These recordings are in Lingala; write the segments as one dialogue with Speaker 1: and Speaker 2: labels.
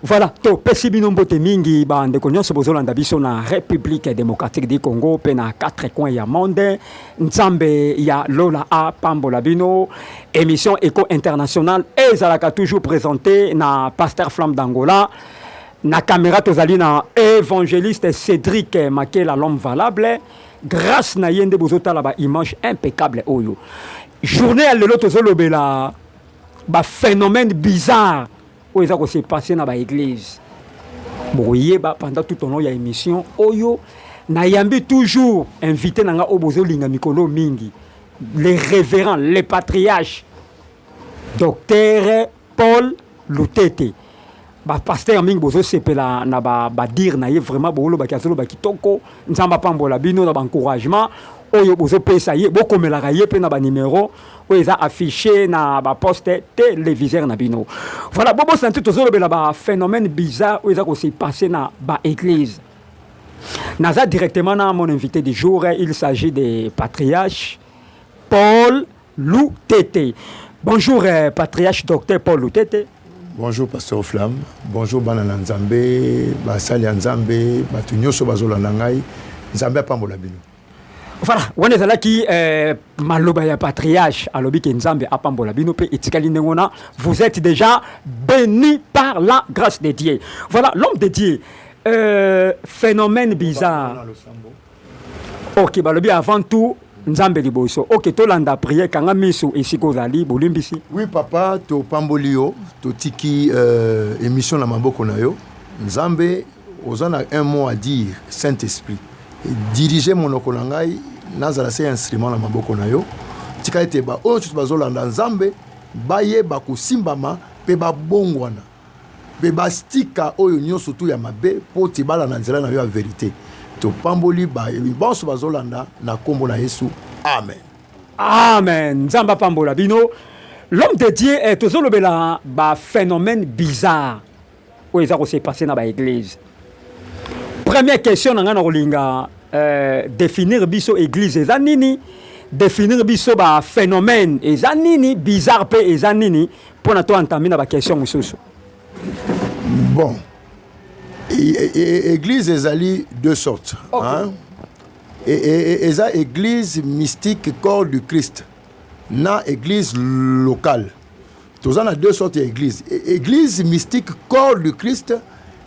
Speaker 1: Voilà, topesi bino mbote mingi bandeko nyonso bozolanda biso na République démocratique du Congo mpe na quatre coins ya monde. Nzambe ya lola apambola bino. Émission Eco International ezalaka toujours présentée na Pasteur Flamme d'Angola. Na caméra tozali na évangéliste Cédric Makela l'homme valable. Grace na ye nde bozo tala ba image impeccable oyo. Journée ya lelo tozo lobela ba phénomène bizarre oyo eza ko se passer na ba église. Bokoyeba pendant tout au long ya émission oyo nayambi toujours invité na nga oyo bozo linga mikolo mingi. Le révérend, le patriarche, docteur Paul Lutete ba pasteur mingi bozo sepela na ba ba dire na ye vraiment bolo baki azolo ba kitoko nzamba pambola bino na ba encouragement oyo bozo pesa ye bokomelaka ye pe na ba numero oyo eza affiché na ba poste televiseur na bino voilà bobo santu tozo lobela ba phénomène bizarre oyo eza ko se passer na ba église naza directement na mon invité du jour il s'agit de patriarche Paul Lutete. Bonjour euh, patriarche docteur Paul Lutete. Bonjour pasteur
Speaker 2: Flamme. Bonjour bana na Nzambe, basali ya Nzambe, bato nyonso bazolanda ngai. Nzambe apambola bino. Voilà,
Speaker 1: wana ezalaki euh, maloba ya patriarche alobi ke Nzambe apambola bino pe etikali ndenge wana. Vous êtes déjà béni par la grâce de Dieu. Voilà, l'homme de Dieu. Euh, phénomène bizarre. ok balobi avant tout nzambe liboso ok tolanda priere kanga miso esika ozali bolimbisi oui papa
Speaker 2: topamboli yo totiki euh, émission na maboko na yo nzambe oza na un mot à dire saint esprit dirige monoko na ngai nazala se instrument na maboko na yo tika ete baoyo nyonso bazolanda nzambe bayeba kosimbama mpe babongwana mpe bastika oyo nyonso tu ya mabe, mpo ete bala na nzela na yo ya verite. Topamboli baye banso bazolanda na nkombo na Yesu, amen. Amen.
Speaker 1: Nzambe apambola bino. L'homme de Dieu eh, tozolobela ba phénomène bizarre oyo eza kose passe na ba église. Première question na ngai na kolinga euh, définir biso église eza nini? Définir biso ba phénomène eza nini? Bizarre pe eza nini? Pona to entame na ba question mususu.
Speaker 2: Bon. Église ezali deux sortes. Okay. Hein? Et, et, et, et, église mystique corps du Christ na église locale toza na deux sortes ya église e, église mystique corps du christ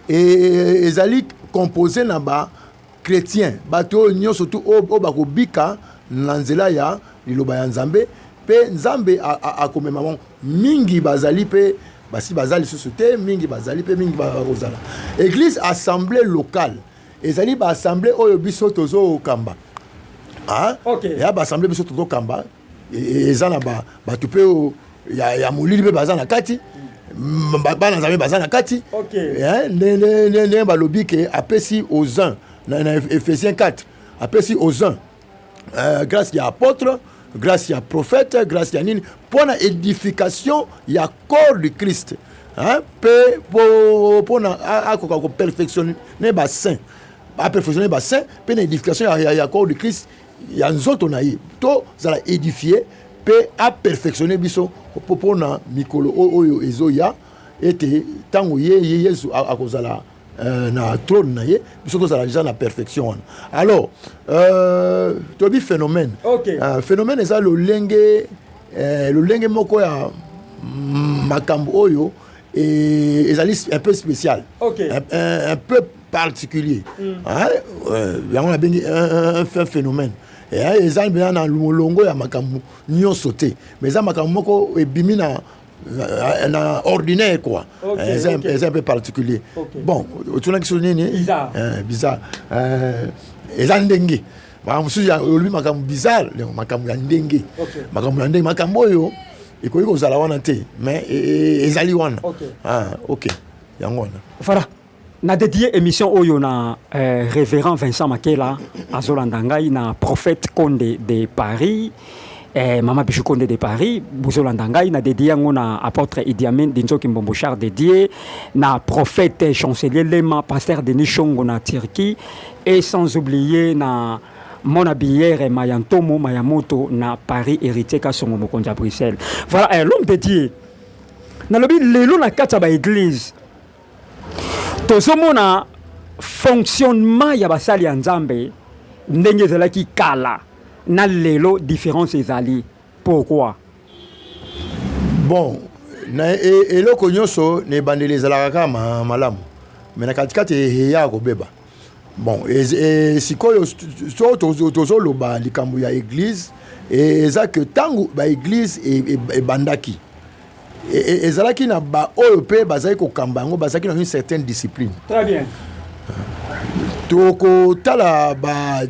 Speaker 2: ezali composé na ba chretien bato oyo nyonso tu oyo bakobika na nzela ya liloba ya nzambe mpe nzambe akomema bango mingi bazali mpe basi baza lisusu te mingi bazali mpe mingi bakozala eglise assemblée locale ezali baassemblée oyo biso tozokamba ah, okay. ya baassemblée biso tozokamba eza na bato mpe oyo ya molili mpe baza na kati bana nzambe baza na kati
Speaker 1: eh, ndenge
Speaker 2: balobi ke apesi aux uns na ephésiens 4 apesi aux uns euh, grâce ya apôtre grâce ya prophète grâce ya nini mpo na édification ya corps du christ mpe mpo na akoka koperfectionne basaint aperfectionne basaint mpe na édification ya corps du christ ya nzoto na ye tozala edifie mpe aperfectionne biso mpo na mikolo oyo ezoya ete ntango ye ye yesu akozala euh, na trône na ye biso tozala deja na perfection wana alors euh, toyebi phénomène okay. euh, phénomène
Speaker 1: eza
Speaker 2: lolenge euh, lolenge moko ya makambo oyo Et ezali un peu spécial. Ok. Un,
Speaker 1: un, un peu
Speaker 2: particulier. Mm. Hein? Euh, yango na bengi un, un, un phénomène. Eh, eza mpenza na molongo ya makambo nyonso te mais eza makambo moko ebimi na euh, na ordinaire quoi okay, eza eh, okay. eza mpe particulier okay. bon otunaki so nini bizarre eh,
Speaker 1: bizarre
Speaker 2: eh, eza ndenge makambo mosusu olobi makambo bizarre makambo ya ndenge makambo ya ndenge makambo oyo ekoki kozala wana te mais e, e, ezali wana ok ah, yango wana fara na
Speaker 1: dédié émission oyo na euh, révérend vincent makela azolanda ngai na prophète conde de paris Eh, mama Bichou Konde de Paris, bozolanda ngai na dédié yango na apôtre Idi Amin Dinzoki Mbombo Char dédié na prophète chancelier Lema pasteur Denis Shongo na Turquie et sans oublier na mona biyere mayantomo mayamoto na Paris héritier Kasongo mokonzi ya Bruxelles. Voilà, eh, l'homme dédié. Nalobi lelo na kati ya ba église tozomona fonctionnement ya basali ya nzambe ndenge ezalaki kala na lelo différence ezali pourquoi
Speaker 2: bon na e, eloko nyonso na ebandeli ezalaka kaka malamu me na katikati eya kobeba Bon, et sikoyo so tozo loba likambo ya église et eza que tango ba église ebandaki e, e, ezalaki na ba oyo pe bazali kokamba yango bazalaki na une certaine discipline. Très
Speaker 1: bien. Tokotala
Speaker 2: ba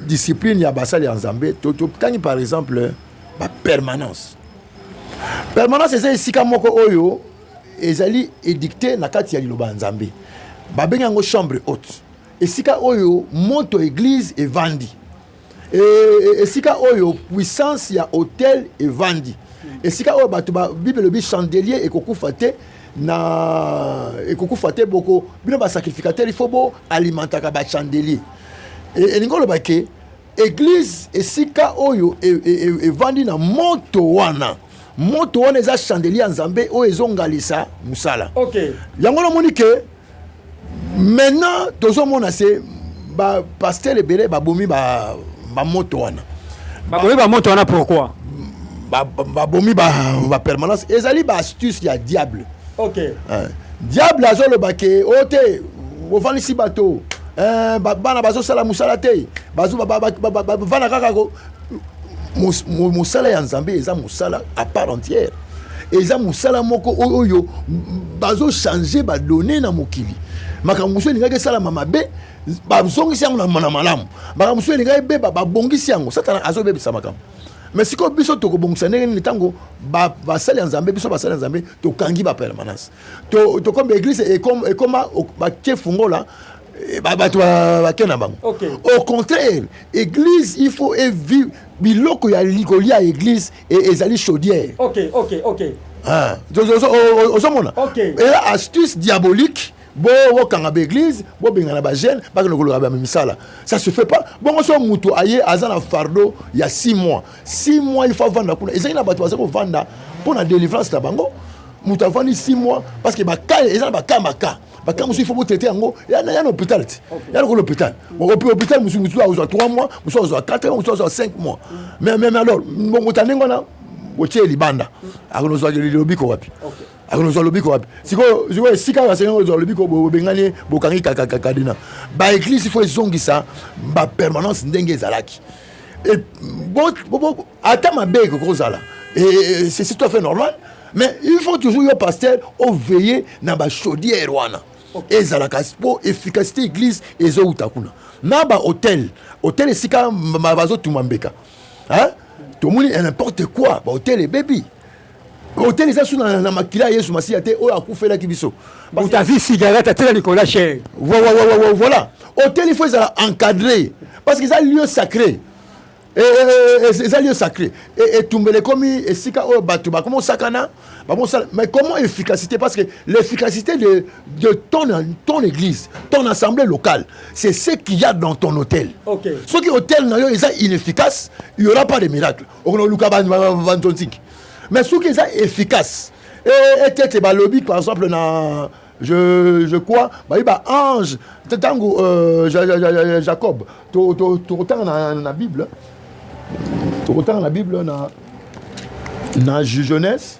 Speaker 2: discipline ya basali ya Nzambe, totangi par exemple ba permanence. Permanence eza esika moko oyo ezali edicte na kati ya liloba ya nzambe babengi yango chambre haute esika oyo moto eglise evandi e, e, esika oyo puissance ya hotel evandi esika oyo bato bible elobi chandelier ekokufa te na ekokufa te boko bino basacrificateur ifo boalimentaka bachandelier e, elingi oloba ke Eglise esika oyo e, e, e, evandi na moto wana moto wana eza chandelier ya nzambe oyo ezongalisa mosala okay. yango
Speaker 1: namoni ke
Speaker 2: maintenant tozomona se bapastere ebele babomi bamoto wana babomi bamoto
Speaker 1: wana pourquoi
Speaker 2: babomi bapermanence ezali baastuce ya diable ok eh,
Speaker 1: diable
Speaker 2: azoloba ke o oh, te ofandisi bato eh, bana bazosala mosala te bavanda kaka mosala ya nzambe eza mosala à part entière eza mosala moko oyo bazochange badone na mokili makambo mosusu elingaki esalama mabe bazongisi yango na malamu makambo mosusu elingaki ebeba babongisi yango satana azobebisa makambo mais sikoyo biso tokobongisa ndenge nini ntango basali ya nzambe biso basali ya nzambe tokangi bapermanence tokomba eglise ekoma batie fungola eh, bato bake na bango au contraire église il faut evive biloko ya kolia ya église e, ezali chaudière ozomona ela
Speaker 1: astuce
Speaker 2: diabolique bokanga ba église bobengana ba jeune bakende koloka ba misala ça se fait pas bongo so mutu aye aza na fardeau ya 6 mois 6 mois il faut avanda kuna ezali na bato baza kovanda mpo na délivrance na bango mutu avandi 6 mois parce que baka eza na baka maka baka mosusu il faut botraite yango ya na hôpital ti ya lokola hôpital opi hôpital mosusu mosusu azwa 3 mois mosusu azwa 4 mois mosusu azwa 5 mois mais mais alors mbongo ta ndenge wana otie libanda akonozwa lobiko wapi akozwa lobiko wapi sikoyo esika oyo asengi kozwa lobiko bobengani ye bokangi kakakakadina baeglise fo ezongisa bapermanence ndenge ezalaki ata mabe ekoki kozala c'est tout à fait normal mais il faut toujours yo pasteur oveille na bachaudière wana ezalaka mpo efficacité église ezowuta kuna na bahotel hotel esika bazotuma mbeka tomoni n'importe quoi bahotel ebebi hôtel eza su na makila ya yesu masiya te oyo akufelaki biso utavi
Speaker 1: cigarette atela nicolas cher voilà
Speaker 2: hôtel il faut ezala encadré parce que eza lieu sacré eh, eh, eh, eza lieu sacré etumbela ekomi esika oyo bato bakoma osakana bakosala mais comment efficacité parce que l'efficacité de, de ton, ton église ton assemblée locale c'est ce qu'il y a dans ton hôtel okay. soki hôtel
Speaker 1: na yo
Speaker 2: eza inefficace il y aura pas de miracle okoluka bantontinki mais soki eza efficace e, ete ete balobi par exemple na je, je crois bayi baange ntango euh, jacob tokotanga na, na bible tokotanga na bible na, na jeunesse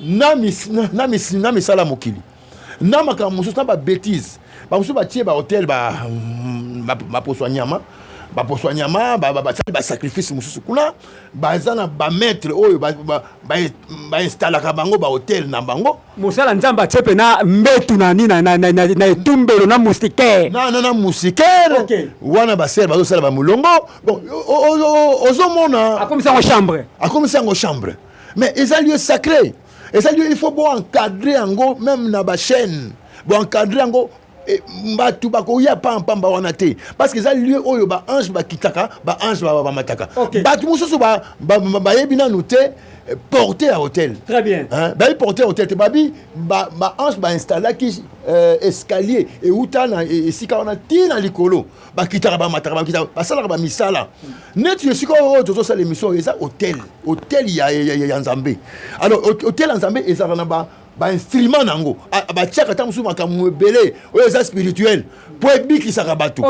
Speaker 2: na, mis, na, na, mis, na misala ya mokili na makambo mosusu na babetise bamosusu batie bahotel baposo mm, ba, ba, ba ya nyama baposo ya nyama basali basacrifice mosusu kuna baza na bamaitre oyo bainstalaka bango bahotel na bango mosala nzambe atie
Speaker 1: mpe na mbetu na nini na etumbelo na mustikere nana na mustikere
Speaker 2: wana basere bazosala bamolongo bon ozomona akomisi yango chambre akomisi yango chambre mais eza lieu sacré eza lieu il faut bo encadrer yango même na ba chaîne bo encadrer yango eh, bato bakoya pampamba wana te parce que eza lieu oyo baange bakitaka baange bamataka bato mosusu bayebi nanu te eh, porte ya hôtel bayebi
Speaker 1: porte ya hôtel te
Speaker 2: babi baange bainstallaki euh, escalier euta na e, esika wana ti na likolo bakitaka bamataka bakitaka basalaka bamisala neti esika oyo tozosala émission oyo eza hotel hotel ya, ya, ya, ya nzambe alors hotel ya nzambe ezalaka na ba bainstrument na yango batiaka ntango mosusu makambo ebele oyo eza spirituel mpo ebikisaka bato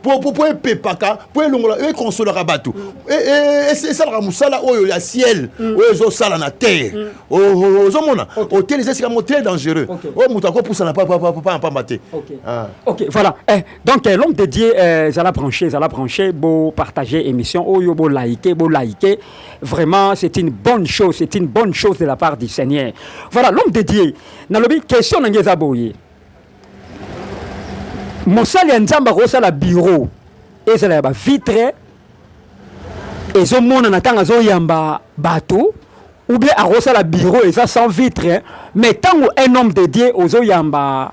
Speaker 2: mpo epepaka mpo elongola oyo ekonsolaka bato mm. e, e, e, esalaka mosala oyo ya ciel mm. oyo ezosala na terre mm. ozomona hotel eza esika moko très dangereux oyo moto akopusana pamba te ah. voilà
Speaker 1: eh, Donc, euh, l'homme de Dieu, euh, zala branché, zala branché, beau partager émission, oh yo, beau liker, beau liker. Vraiment, c'est une bonne chose, c'est une bonne chose de la part du Seigneur. Voilà, l'homme de Dieu, nalobi, question na ngeza boye. Mosali ya nzamba kosala bureau, ezala ya ba vitre, ezomona na ntango azoyamba bato ou bien akosala bureau eza sans vitre mais ntango un homme de dieu ozoyamba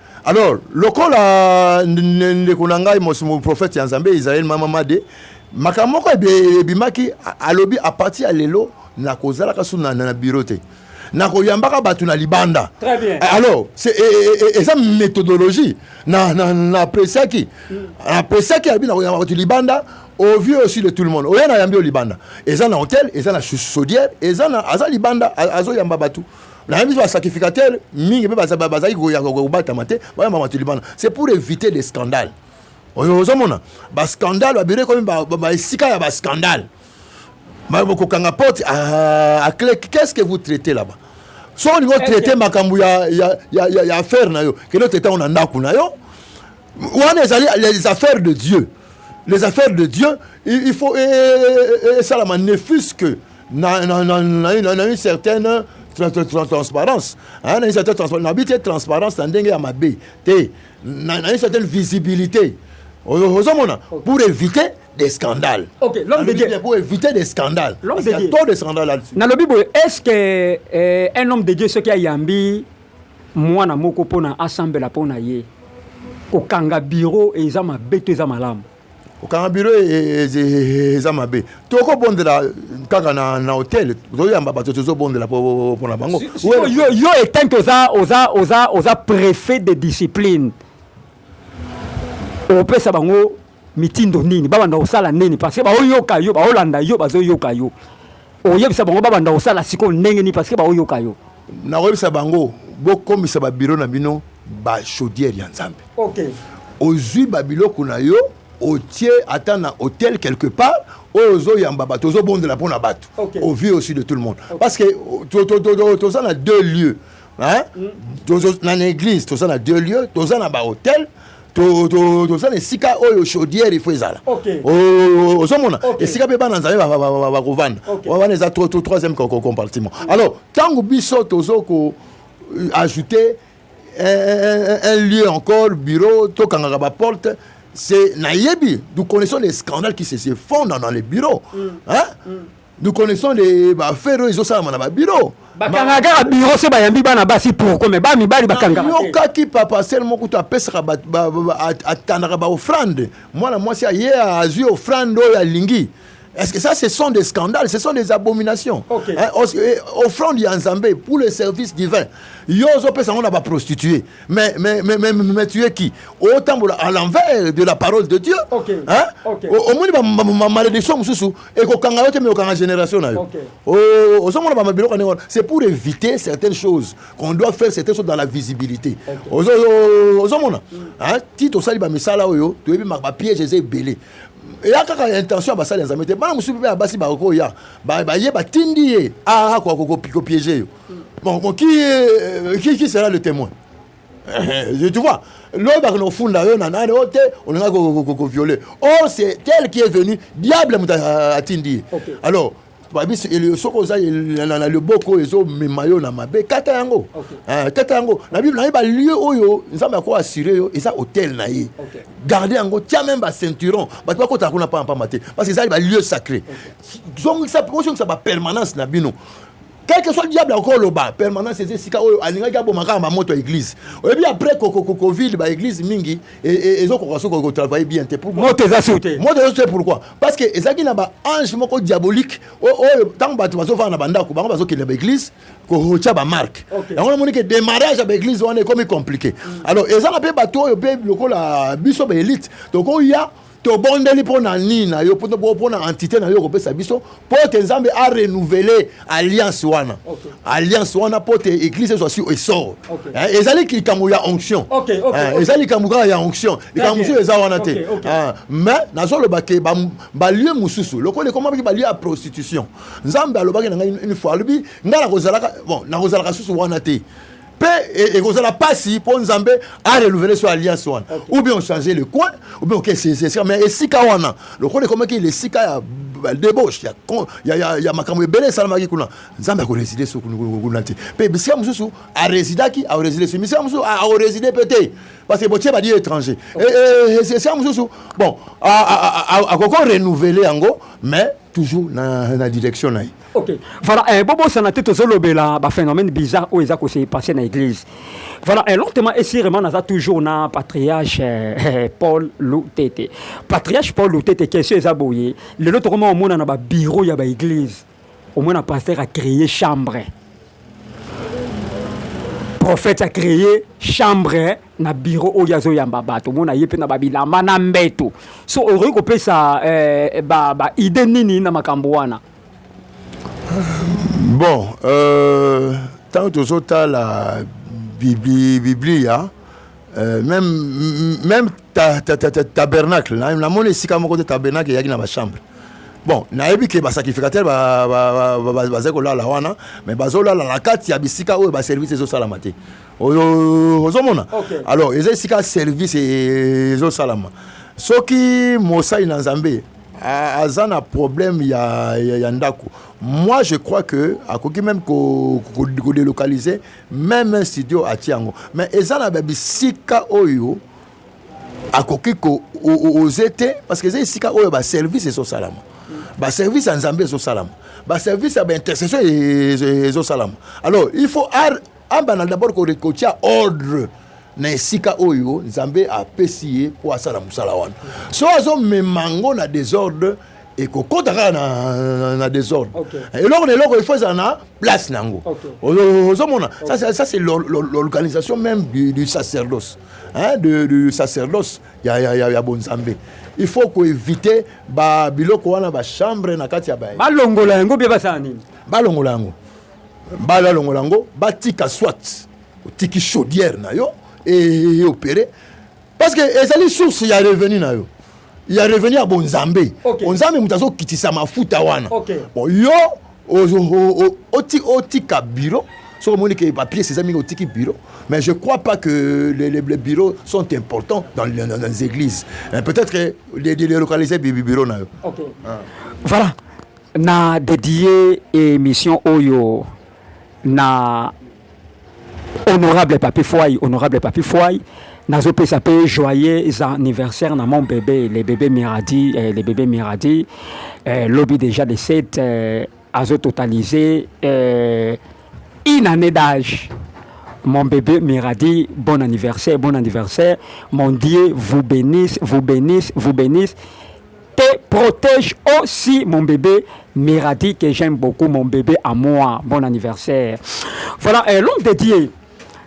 Speaker 2: alors lokola ndeko na ngai prophète ya nzambe israel mama made makambo moko ebimaki alobi apartir ya lelo nakozalaka su na, na biro te nakoyambaka bato na libanda eh, alors
Speaker 1: e, e, e,
Speaker 2: eza méthodologie napesiaki mm. napesiaki abi nakoyamba bato libanda au vieux aussi de tout le monde oya nayambi yo libanda eza na hotel eza na chaudière eza na aza libanda azoyamba bato na biso basacrificateur mingi mpe bazalaki kobatama te bayamba bato libanda c'est pour éviter des scandales oyo ozomona bascandale babiro ekomi baesika ya bascandale kokanga porte aclé ah, qu'est ce que vous traitez là-bas soki olingi otraite makambo ya affaire na yo kende otraite yango na ndako na yo wana ezali les affaires de dieu les affaires de dieu il faut esalama ne fuse que na, na, na, na, na, na une certaine transparence hein, na une certaine transparence nabi te transparence na ndenge ya mabe te na, na une certaine visibilité ozomona pour éviter des scandales okay, l'homme de Dieu
Speaker 1: pour éviter des scandales
Speaker 2: l'homme de Dieu trop de scandales là-dessus nalobi boye est-ce que
Speaker 1: euh, un homme de Dieu soki ayambi mwana moko mpona asambela mpona ye kokanga biro eza mabe to eza malamu kokanga biro
Speaker 2: e, e, e, eza mabe tokobondela kaka na, na hotel tozoyamba bato tozobondela mpona bango yo, yo etanke
Speaker 1: oza, oza, oza, oza prefet de discipline opesa bango mitindo nini babanda kosala nini parce que baoyoka yo baolanda yo bazoyoka yo oyebisa bango babanda kosala sikoyo ndenge nini parce que baoyoka yo Nakoyebisa bango
Speaker 2: bokomisa ba bureau na bino ba chaudière ya Nzambe. Okay.
Speaker 1: Ozui ba
Speaker 2: biloko na yo otie ata na hotel quelque part oyo ozoyamba bato ozobondela mpo na bato okay. au vu aussi de tout le monde okay. parce que euh, toza na deux lieux hein? Mm. na église toza na deux lieux toza na bahôtel toza na esika oyo chaudière ifo ezala ozomona esika mpe bana nzambe bakovanda wana eza troisième compartiment alors ntango biso tozo ko euh, ajouter un lieu encore bureau tokangaka baporte c'est nayebi nous connaissons les scandales qui se font dans les bureaux mm. hein? Mm. nous connaissons des ba affaires oyo ezosalama na ba bureau bakangaka kaka biro
Speaker 1: se bayambi bana basi pourkoi me ba mibali bakangaka yokaki papa
Speaker 2: sel moko kutu apesaka atandaka baofrande mwana mwasi aye azwi ofrande oyo alingi Est-ce que ça, ce sont des scandales, ce sont des abominations okay. hein,
Speaker 1: eh,
Speaker 2: Offrande ya Nzambe pour le service divin. Yo opesa on ba prostituée. Mais mais mais mais, mais tu es qui Autant à l'envers de la parole de Dieu. Okay.
Speaker 1: Hein?
Speaker 2: Okay. Au
Speaker 1: moins ma
Speaker 2: malédiction mususu ekokanga yo te mais okanga génération na yo oh, ozomona bama biloko ndenge wana c'est pour éviter certaines choses qu'on doit faire certaines choses dans la visibilité ozomona ti tosali bamisala oyo toyebi bapiège eza ebele eya kaka intention ya basali ya nzambe te bana mosusu mpe ya basi bakoya baye batindi ye akokopiege yo bon qui, euh, qui, qui sera le témoin tu vois lobi bakende kofunda yo na nani oyo te olingaki koviole or c'est tel qui est venu diable moto atindi ye alors babisi soki oza na liboko oyo ezomema yo na mabe kata yango eh, kata yango na bible na ye balieu oyo nzambe ako assure yo eza hotel na ye garde yango tia meme baceinturon bato bakotaka kuna mpamba mpamba te parce que ezali balieu sacré zongisa bapermanence na bino quelque soit diable akoki oloba permanence eza esika oyo alingaki aboma kaka bamoto ya église oyebi après covid baéglise mingi e, e, ezokoka soki kotravaille bien te moto eza sur te moto
Speaker 1: eza sur pourquoi
Speaker 2: parce que ezalaki na baange moko diabolique oyo ntango bato bazofanda na bandako bango bazokende baéglise kotia bamarke yango namoni ke démarrage ya baéglise wana ekomi compliqué mm. alors ezala mpe bato oyo mpe lokola biso baélite tokoya tobondeli mpo na nini na yo mpo na entité na yo kopesa biso mpo ete nzambe a renouvele alliance wana okay. alliance wana mpo ete église ezwa si esor okay. eh, ezali likambo ya onction okay, okay, eh, okay. ezali likambo kaka ya onction likambo mosusu eza wana te okay, okay. eh, mais nazoloba ke balie ba mosusu lokola ekomamaki balie ya prostitution nzambe alobaki na ngai une fois alobi ngai nakozalaka bon nakozalaka susu wana te mpe e, ekozala mpasi mpo nzambe arelouvele so alliance wana okay. ou bien ochange le coin ou bien okesese esika mais esika wana lokola ekomaki esika ya debauche ya, ya, ya, ya makambo ebele esalamaki kuna nzambe akoreside so kuna te mpe bisika mosusu aresidaki aoreside so bisika mosusu aoreside mpe te parce que botie badi étranger esika mosusu bon akoko renouveler yango mais toujours na, na direction na ye Ok, voilà, eh,
Speaker 1: bobo sanate tozolobela ba phénomène bizarre oyo eza kose passer na église. Voilà, eh, lentement et sûrement naza toujours na patriarche eh, eh Paul Lutete. Patriarche Paul Lutete question eza boye, lelo tokoma omona na ba bureau ya ba église. Omona pasteur a créé chambre. Prophète a créé chambre na bureau oyo azoyamba bato omona ye mpe na babilamba na mbeto so okoki kopesa eh, ba, ba idée nini na makambo wana
Speaker 2: bon euh, ntango tozotala biblia euh, même, même ta, ta, ta, ta, tabernacle namoni esika moko te tabernacle eyaki na bachambre bon nayebi ke basacrificateur bazali kolala wana mais bazolala na kati ya bisika oyo baservice ezosalama te ozomona alors eza esika service ezosalama soki mosali na nzambe Ah, aza na problème ya, ya, ya ndako moi je crois que akoki même kodélocaliser même un studio atie yango mais eza na babisika oyo akoki koose te parce que eza esika oyo baservice ezosalama baservice ya nzambe ezosalama baservice ya baintercession ezosalama alors il faut Abanda d'abord ko recocha ordre na esika oyo Nzambe apesi ye mpo asala mosala wana. So azomema yango na desordre ekokota kaka na, na, na desordre okay. eloko na eloko ifo ezala na place na yango ozomona okay. ça, ça c'est l'organisation même du, du sacerdoce hein, de, du sacerdoce ya, ya, ya, ya bonzambe il faut koevite babiloko wana bachambre na kati ya baye balongola yango bie basala
Speaker 1: nini balongola yango
Speaker 2: bala longola yango batika soit otiki chaudière na yo eopere parce que ezali source ya revenu na yo ya revenu ya bonzambe okay. onzambe moto azokitisa mafuta wana okay. bon, yo otika biro soki omoni ke bapiece eza mingi otiki biro mais je crois pas que les, les, les bureaux sont importants dans, dans, dans les églises peut-être que de, de, de localiser biro na yo okay. ah.
Speaker 1: voilà Na dedie emission oyo na honorable Papi Fwai, honorable Papi Fwai nazopesa mpe joyeux anniversaire na mon bebe le bebe miradi eh, le bebe miradi eh, lobi déjà de 7 eh, azo totaliser eh, une année d'âge mon bébé Miradi, bon anniversaire, bon anniversaire. Mon Dieu vous bénisse, vous bénisse, vous bénisse. te protège aussi mon bébé Miradi que j'aime beaucoup mon bébé à moi bon anniversaire voilà euh, l'homme de Dieu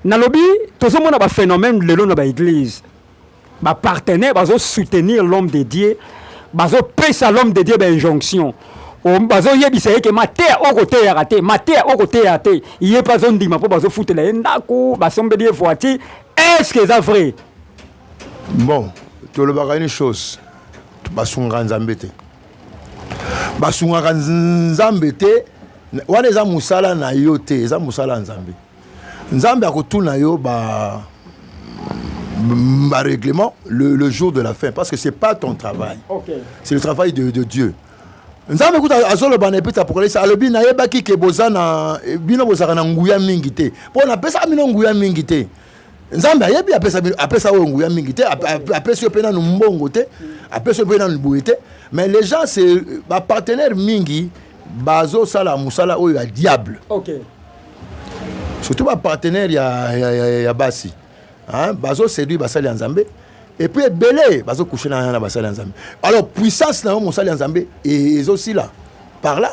Speaker 1: nalobi tozomona ba phénomène lelo na ba église ba partenaire bazo soutenir l'homme de Dieu bazo pesa l'homme de Dieu ba injonction bazoyebisa ye ke mateya oyo koteyaka te mateya oyo koteya te ye mpe azondima mpo bazofutela ye ndako basombeli ye voiture est ce que eza vrai
Speaker 2: Bon, tolobaka une chose, basungaka Nzambe te. Basungaka Nzambe te, wana eza musala na yo te, eza musala ya Nzambe. Nzambe akotuna yo ba ba règlement le, le jour de la fin parce que c'est pas ton travail. Okay. C'est le travail de, de Dieu. nzambe kuta azoloba na epesa apokalipsi alobi nayebaki ke boza na bino bozalaka na nguya mingi te mpo napesaka bino nguya mingi te nzambe ayebi apesa bino apesa oyo nguya mingi te apesi yo mpe nanu mbongo te apesi yo mpe nanu boye te mais les gens se bapartenaire mingi bazosala mosala oyo ya diable okay. surtout bapartenaire ya, ya, ya, ya basi bazoseduire basali ya nzambe epuis ebele bazokouche na basali ya nzambe alors puissance na yo mosali ya nzambe ezosila par là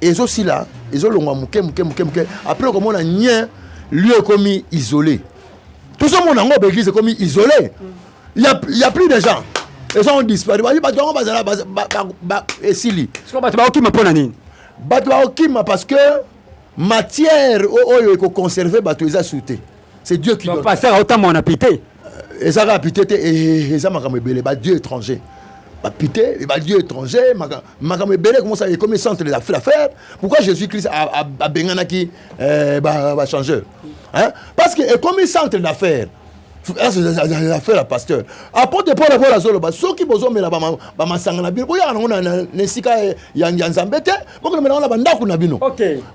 Speaker 2: ezo sila ezo longwa muke muke muke muke après okomona nien lieu ekomi isolé tozomona yango baeglise ekomi isolé il y a, il y a plus de gens ezo on disparaît bayi bato yango bazala baza- ba- ba- ba- esili sikoyo bato bakokima mpo na nini bato bakokima parce que matière o- oyo ekoconserve bato eza su te c'est dieu qui donne pasteur aotambola na pite
Speaker 1: euh, eza kaka
Speaker 2: pite te eh, eh, eh, eza makambo ebele badieu étranger bapite badieu étranger makambo ebele komosa ekomi centre de la affaire pourquoi jésus christ abenganaki bachangeur parce que ekomi centre d'affaire affaire ya pasteur apote paul akola azoloba soki bozomela bamasanga na bino boyaka nango na esika ya nzambe te bokolobela na bandako na bino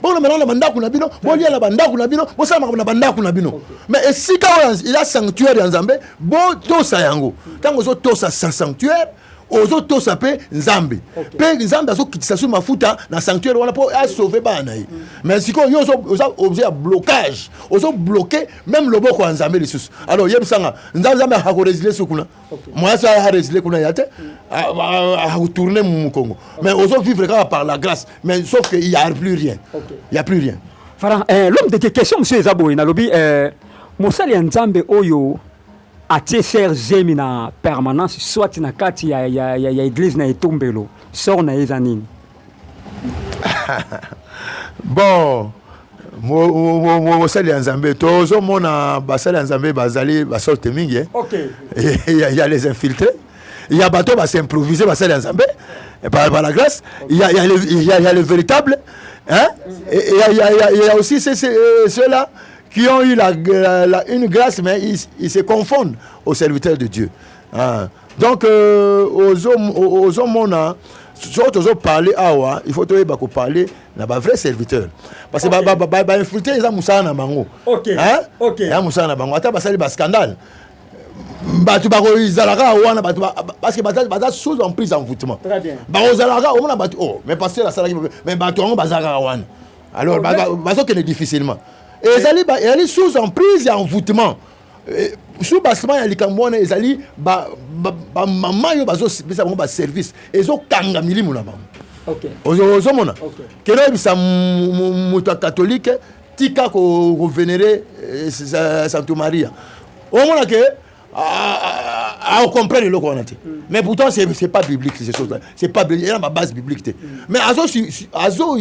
Speaker 2: bokolobela na bandako na bino bolia na bandako na bino bosala makambo na bandako na bino mais esika oyo eza sanctuaire ya nzambe botosa yango ntango ozotosa sa sanctuaire ozotosa mpe nzambe mpe nzambe azokitisa so mafuta na sanctuaire wana mpo asauve bana na ye mm. mais sikoyo yo oza objet ya blocage ozobloke meme loboko ya nzambe lisusu alors yebisanga nzambe akoresile so kuna mwasi aresile kuna ya te tourne mumu congo mais ozo vivre kaka par la grâce mais sauf que y a plus rien y a plus rien fara eh, l'homme
Speaker 1: de question monsieur eza boye nalobi eh, mosali ya nzambe oyo atie ser zemi na permanence soit na kati ya, ya, ya, ya eglise na etombelo sor na ye eza nini
Speaker 2: bon mosali ya nzambe tozomona basali ya nzambe bazali basorte mingi eh. okay. ya les infiltre ya bato basimprovise basali ya nzambe eh, par, par la grâce okay. ya, ya, ya, ya le véritable hein? il y a, y, a, y a aussi euh, ceux-là qui ont eu la, la, la, une grâce mais ils, ils se confondent aux serviteurs de Dieu hein? donc euh, ozomona soki tozo parle awa il faut toyeba koparle na bavrai serviteur parce que bainfiltre eza mosala na bango eza mosala na bango ata basali bascandale bato bakozalaka wana bato parce que baza sous en prise envoûtement bakozalaka omona bato o oh, mais pasteur asalaki mais bato yango bazalaka wana alors bazokende difficilement ezali sous en prise ya envoûtement Eh, sous bassement ya likambo wana ezali bamama oyo bazopesa bango baservice ezokanga milimu na bango ozomona kende oyebisa moto ya katolike tika kovenere eh, santo maria omona ke aocomprendre eloko wana te hmm. mais pourtant c'est pas biblique ces choses là c'est pas il y a ma base biblique te hmm. mais azo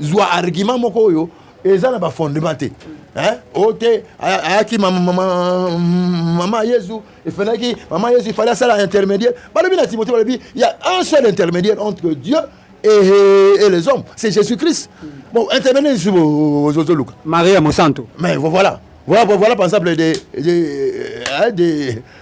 Speaker 2: zwa argument moko oyo eza na bafondement te o te ayaki mama yezu efenaki mama yezu ifale asala intermédiaire balobi na timote balobi ya un seul intermédiaire entre dieu et, et les hommes c'est jésus christ bon intermédiaire lisusu ozoluka maria
Speaker 1: mosanto mais voilà
Speaker 2: voilà, voilà par exemple des, des, des,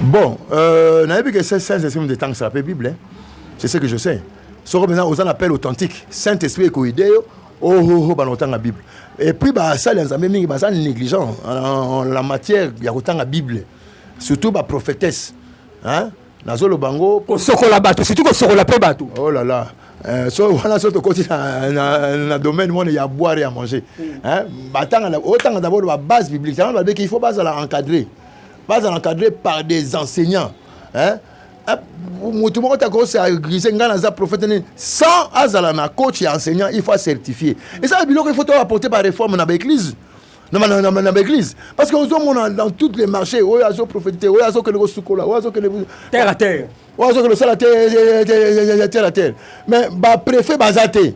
Speaker 1: Bon,
Speaker 2: euh, nayebi que c'est saint esprit de temps ça peut Bible. Hein? C'est ce que je sais. Soko mena oza na appel authentique. Saint esprit eko aider yo. Oh oh oh banotanga Bible. Et puis ba sali nzambe mingi baza négligent en la matière ya kotanga Bible. Surtout ba prophétesse. Hein? Nazolo bango kosokola bato, surtout kosokola
Speaker 1: pe bato. Oh là là. Euh,
Speaker 2: so wana so tokoti na, na, na domaine mwana ya boire ya manger mm. batanga otanga d'abord ba base biblique tango babeki il faut bazala encadrer baza na cadre par des enseignants hein motu moko te akoki agrise ngai naza prophète nini sans azala na coach ya enseignant il faut acertifie ezala biloko il faut toaporte baréforme na baeglise na baeglise parce que ozomona dans toutes les marchés oyo azoprofete te oyo azokende kosukola oyo azokende terre à terre
Speaker 1: oyo azokende kosala
Speaker 2: terre à terre mais bapréfet baza te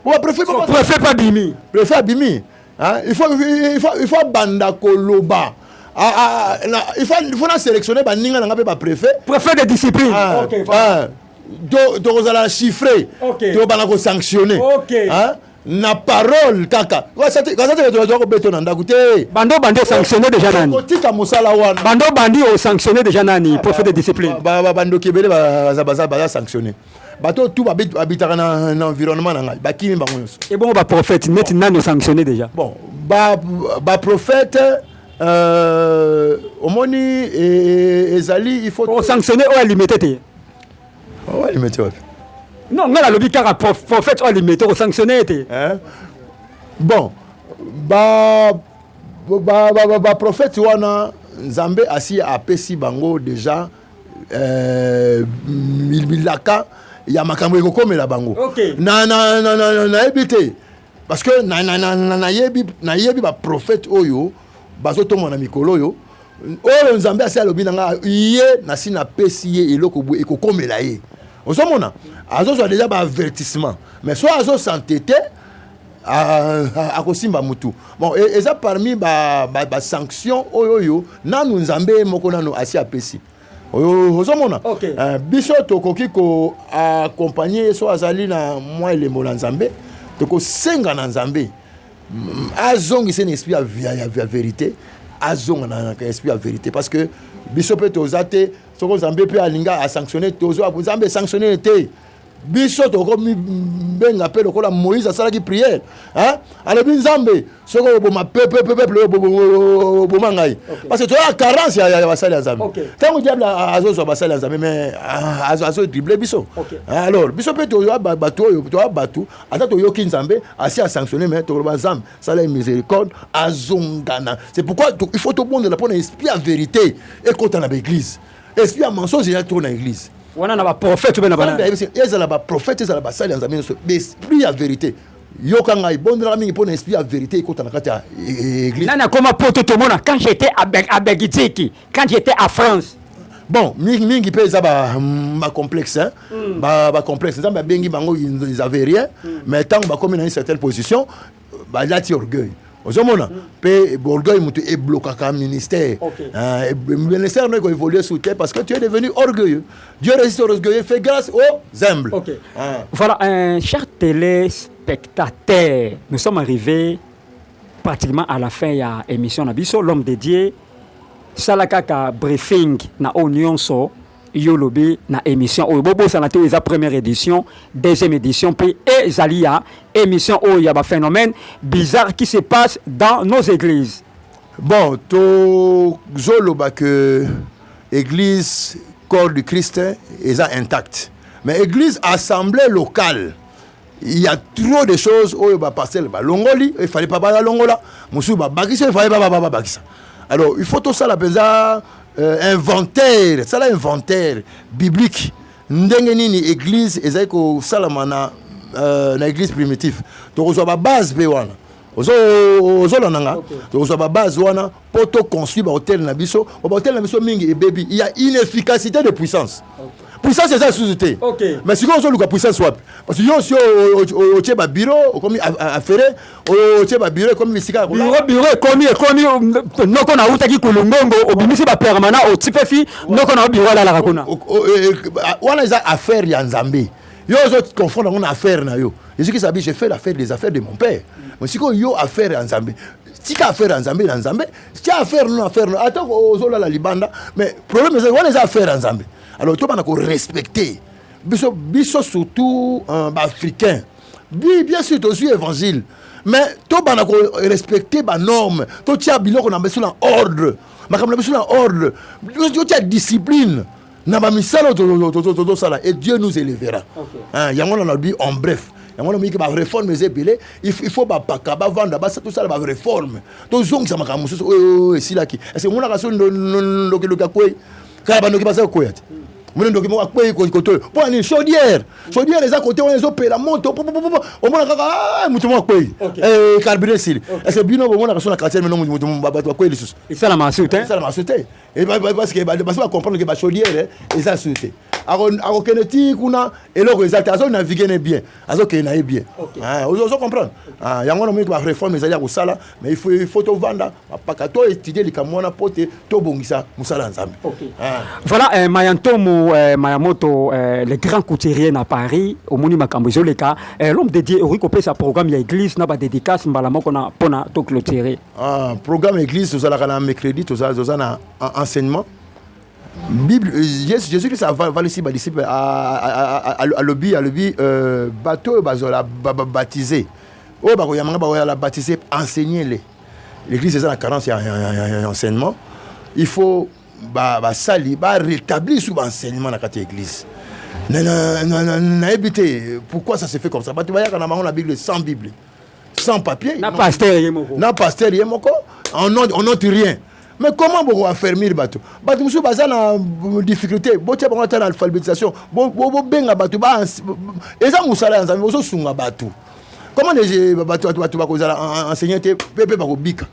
Speaker 1: bapréfet pas bimi préfet abimi
Speaker 2: Hein? Il, faut, il, faut, il faut abanda koloba ah, ah, ah, na, il faut, il faut na sélectionner baninga na nga mpe bapréfet préfet de discipline
Speaker 1: ah, okay, ah,
Speaker 2: tokozala to chiffré okay. tobanda kosanctionne okay. hein? na parole kaka kasatetoa kobeto na ndako te
Speaker 1: bando bandi osanctionne déjà nani kotika mosala wana bando bandi osanctionne déjà nani prophète de discipline bandoki ebele
Speaker 2: baza sanctionne bato oyo tu babitaka na environnement na ngai bakimi bango nyonso
Speaker 1: ebongo baprophète neti nani osanctionne déjà bon
Speaker 2: baprophète ba euh, omoni e, e, ezali il faut osanctionne oyo alimete te
Speaker 1: oyo oh,
Speaker 2: alimete wapi
Speaker 1: non ngai nalobi kaka prophète oyo alimete osanctionne ye te
Speaker 2: bon ba baprofete ba, ba, ba, ba wana nzambe asi apesi bango deja eh, bilaka ya makambo ekokomela bango okay. na, na, na, na, na, nayebi te parce que na, na, na, na, nayebi nayebi baprofete oyo bazotomba na mikolo oyo oyo nzambe asi alobi na ngai ye nasi napesi ye eloko boye ekokomela ye ozomona azozwa deja baavertissement mais so azosante te akosimba mutu bon e, eza parmi basanction ba, ba oyo oyo nanu nzambe ye moko nanu asi apesi ozomona okay. uh, biso tokoki koaccompagne ye so azali na mwa elembo na nzambe tokosenga na nzambe mm, azongisa na esprit ya, ya, ya verité azonga na esprit ya verité parce que biso mpe toza te soko nzambe mpe alinga asanctionne tozwa nzambe esanctionne te biso tokomibenga mpe lokola moïse asalaki priere alobi nzambe soki oboma peple oboma ngai parce que toya carence ya basali ya nzambe ntango diable azozwa basali ya nzambe mais ah, azodrible biso alors biso mpe toya bato oyo toya bato ata toyoki nzambe asi asanctionne mais tokoloba nzambe sala ye miséricorde azongana c'est pourquoi il faut tobondela mpo na esprit ya vérité ekota na baeglise esprit ya mensonge eya trop na église wana na baprofete
Speaker 1: mpe na bana ezala baprofete
Speaker 2: ezala basali ya nzambe nyonso esprit ya verité yoka ngai bondelaka mingi mpo na esprit ya verité ekota na kati ya e, e, église nani akoma poto
Speaker 1: tomona quand j'étais à belgique quand j'étais à france bon mingi
Speaker 2: mingi mpe eza bacomplexe ba mm. bacomplexe ba nzambe abengi bango ils avaient rien mm. mais ntango bakomi na une certaine position balati orgueil ozomona mpe orgueil moto eblokaka ministère euh, ministère no ekoévolue sous te parce que tu es devenu orgueilleux dieu résiste aux orgueilleux fait grâce aux humbles ah. voilà un
Speaker 1: cher téléspectateur nous sommes arrivés pratiquement à la fin ya émission na biso l'homme de dieu sala kaka briefing na oyo nyonso yo olobi na émission oyo bobosana te oyo eza première édition deuxième édition mpe ezali ya émission oyo ya baphénomène bizarre qui se passe dans nos églises bon
Speaker 2: tozoloba que église corps du christ eza intact mais église assemblée locale il y a trop de choses oyo ba parcelle balongoli il fallait pas balongola mosusu babakisa il fallait pas babakisa alors il faut tosala mpenza euh, inventaire sala inventaire biblique ndenge nini église ezali kosalama na euh, na église primitive tokozwa babase mpe wana ozolanda nga tokozwa babase wana mpo to construire bahotel na biso po bahotel na biso mingi ebebi ya inefficacité de puissance puissance eza lisusu te mais sikoyo ozoluka puissance wapi parce que yo osi otie babiro okomi afere otie babiro ekomi bisika ya biro ekomi
Speaker 1: ekomi noko na utaki kulungongo obimisi bapermanent otipefi noko na yo biro alalaka kuna
Speaker 2: wana eza affaire ya nzambe yo ozo confondre yango na affaire na yo ezokisa bi je fais l'affaire des affaires de mon père mais sikoyo yo affaire ya nzambe tika affaire ya nzambe na nzambe tia affaire no affaire no ata ozolala libanda mais problème ezali wana eza affaire ya nzambe alors tobana korespecte biso biso surtout euh, baafricain bi bien sûr tozwi évangile mais tobana korespecte banorme totia biloko na biso na ordre makambo na biso na ordre totia discipline na bamisala oyo tozosala et dieu nous élevera yango na nalobi en bref yango namoyiki bareforme eza ebele il faut bapaka bavanda tosala bareforme tozongisa makambo mosusu oyo esilaki ece monaka so ndokiloki akwei kala bandoki baza kokwea te omoni ndoki moko akwei kote oyo mpo nini chaudière chaudière eza kote wana ezopela moto omona kaka ah, moto moko akwei eh, carburant esili ece bino bomonaka so na quartier mino bato bakwei lisusu esalamaka
Speaker 1: su te Eh,
Speaker 2: parce que basi bacomprendre ke bachaudiere eza su te akokende ti kuna eloko eza te azo navigue ne bien azokende na ye bien ah, ozo comprendre ah, yango namoni bareforme ezali ya kosala mais il faut il faut tovanda bapaka to étudie likambo wana mpo te tobongisa mosala ya nzambe ah. voilà eh,
Speaker 1: maya ntomo eh, maya moto eh, le grand couturier na paris omoni makambo ezoleka eh, l'homme dédié okoki kopesa programme ya église na badédicace mbala moko na mpo na toclotire Ah, programme
Speaker 2: église tozalaka na mercredi toza na enseignement bible euh, yesu jésus kristo avalisi badisciple alobi alobi euh, bato oyo bazala babaptise oyo bakoyamanga bakoyala baptise enseigne le l'église eza na carence ya enseignement il faut basali barétablir sur baenseignement na kati ya église nayebi te pourquoi ça se fait comme ça bato bayaka na bango na bible sans bible sans papier na pasteur ye moko
Speaker 1: na pasteur ye moko
Speaker 2: on note, on note rien mais comment boko affermir bato bato mosusu baza na difficulté botya bango ata na alphabétisation bobenga bato eza mosala ya nzambe bozosunga bato comment bato bakozala enseigné te mpe mpe bakobika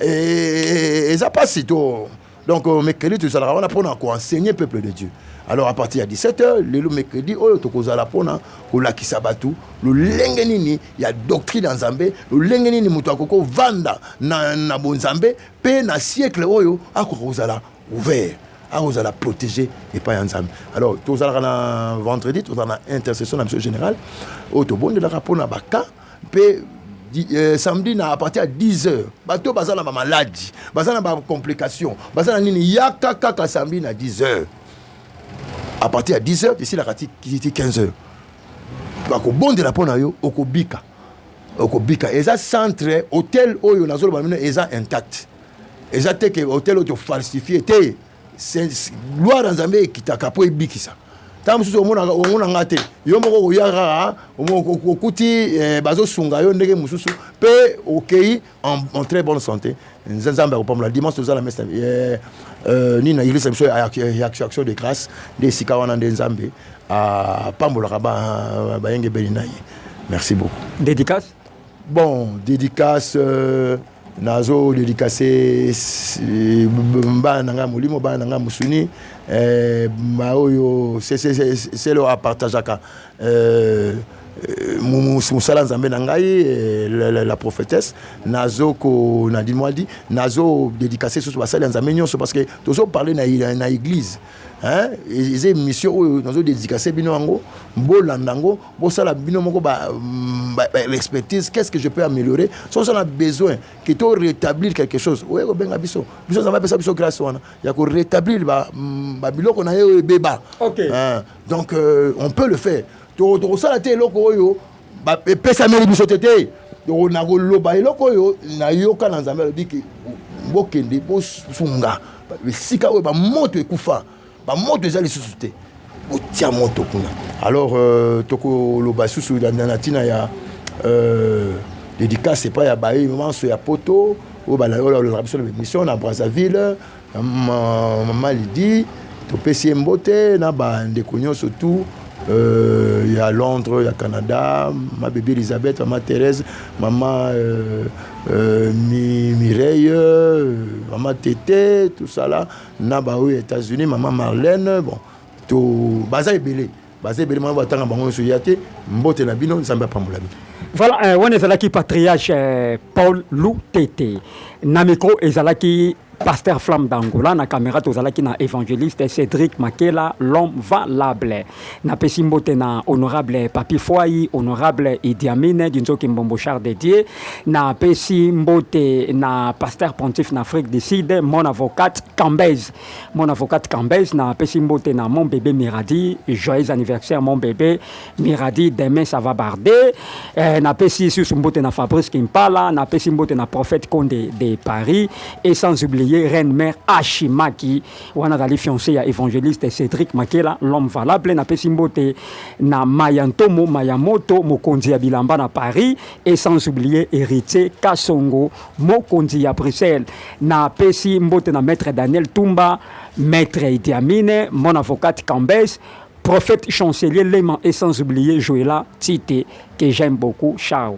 Speaker 2: eza mpasi to donc euh, mercredi tozalaka wana mpona koenseigne peuple de dieu alors à partir ya 17 heures lelo mercredi oyo tokozala mpona kolakisa bato lolenge nini ya doctrine ya nzambe lolenge nini moto akoki kovanda na, na bonzambe mpe na siècle oyo akoka kozala ouvert akozala protégé epai ya nzambe alors tozalaka na vendredi tozala na intercession na biso générale oyo tobondelaka mpona baka mpe euh, samedi na apartir ya 10 heures bato oyo baza na bamaladi baza na bacomplication baza na nini yaka kaka samedi na 10 heures apartir ya 10 heures esilaka ti 15 heures bakobondela mpo na yo okobika okobika eza centre hotel oyo nazoloba mino eza intact eza te ke hotel oyo tofalsifie te gloire ya nzambe ekitaka mpo ebikisa ntango mosusu omonaka omona nga te yo moko okoya kaka okuti eh, bazosunga yo ndenge mosusu mpe okei en très bonne santé nzambe akopambola dimanche tozala mesa eh, eh, nini na eglise biso ya action de grâce nde esika wana nde nzambe apambolaka bayengebeni na ye merci beaucoup dédicace
Speaker 1: bon
Speaker 2: dédicace euh, nazo dedicase bana na ngai molimo bana na ngai mosuni eh, baoyo selo apartageaka eh, eh, mosala nzambe na ngai la prophétesse nazo ko na dimwadi nazo dedicase susu basali ya nzambe nyonso parce que tozo parle na, na église eza émission oyo nazo dedicase bino yango bolanda yango bosala bino moko ba, mm, ba, ba expertise qu'est-ce que je peux améliorer soki oza na besoin que to rétablir quelque chose oye kobenga biso biso nzambe apesa biso grâce wana ya ko rétablir ba, mm, ba biloko na ye oyo ebeba Ok. Hein, donc euh, on peut le faire To- tokosala te eloko oyo ba- epesameli biso te te Toko- nakoloba eloko oyo nayoka na nzambe alobi ke bokende bosunga esika oyo bamoto ekufa Ba moto eza lisusu te. Botia moto kuna. Alors euh, tokoloba susu na tina ya euh, dédicace epai ya baye manso ya poto oyo balalolaka biso na bamission na brazzaville mama lidi topesi ye mbote na bandeko nyonso tout euh, ya londres ya canada ma bebe elisabeth mama thérèse mama euh, euh, mi, mireille euh, mama tete tout ça là na ba oyo États-Unis maman Marlène bon to baza ebele baza ebele mwana batanga bango nyonso ya te mbote na bino nzambe apambola bino voilà euh, wana ezalaki
Speaker 1: patriarche euh, paul lutete na micro ezalaki pasteur flamme d'angola na caméra tozalaki na évangéliste cédric makela l'homme valable Napesi mbote na honorable Papi Fwai, honorable Idi Amin, Dinzoki Mbombo Char de Dieu. Napesi mbote na pasteur pontife na Afrique du Sud, mon avocate Cambez. Mon avocate Cambez, napesi mbote na mon bébé Miradi. Joyeux anniversaire mon bébé Miradi, demain ça va barder. Eh, napesi susu mbote na Fabrice Kimpala, napesi mbote na prophète Konde de Paris et sans oublier reine mère Ashimaki Wana azali fiance ya evangeliste Cedric Makela l'homme valable. Napesi mbote na Maya Ntomo Maya Moto mokonzi ya bilamba na Paris et sans oublier Heritier Kasongo mokonzi ya Bruxelles. Napesi mbote na maître Daniel Tumba, maître Idi Amine, mon avocate Cambes, prophète chancelier Lema et sans oublier Joëla Tite que j'aime beaucoup. Ciao.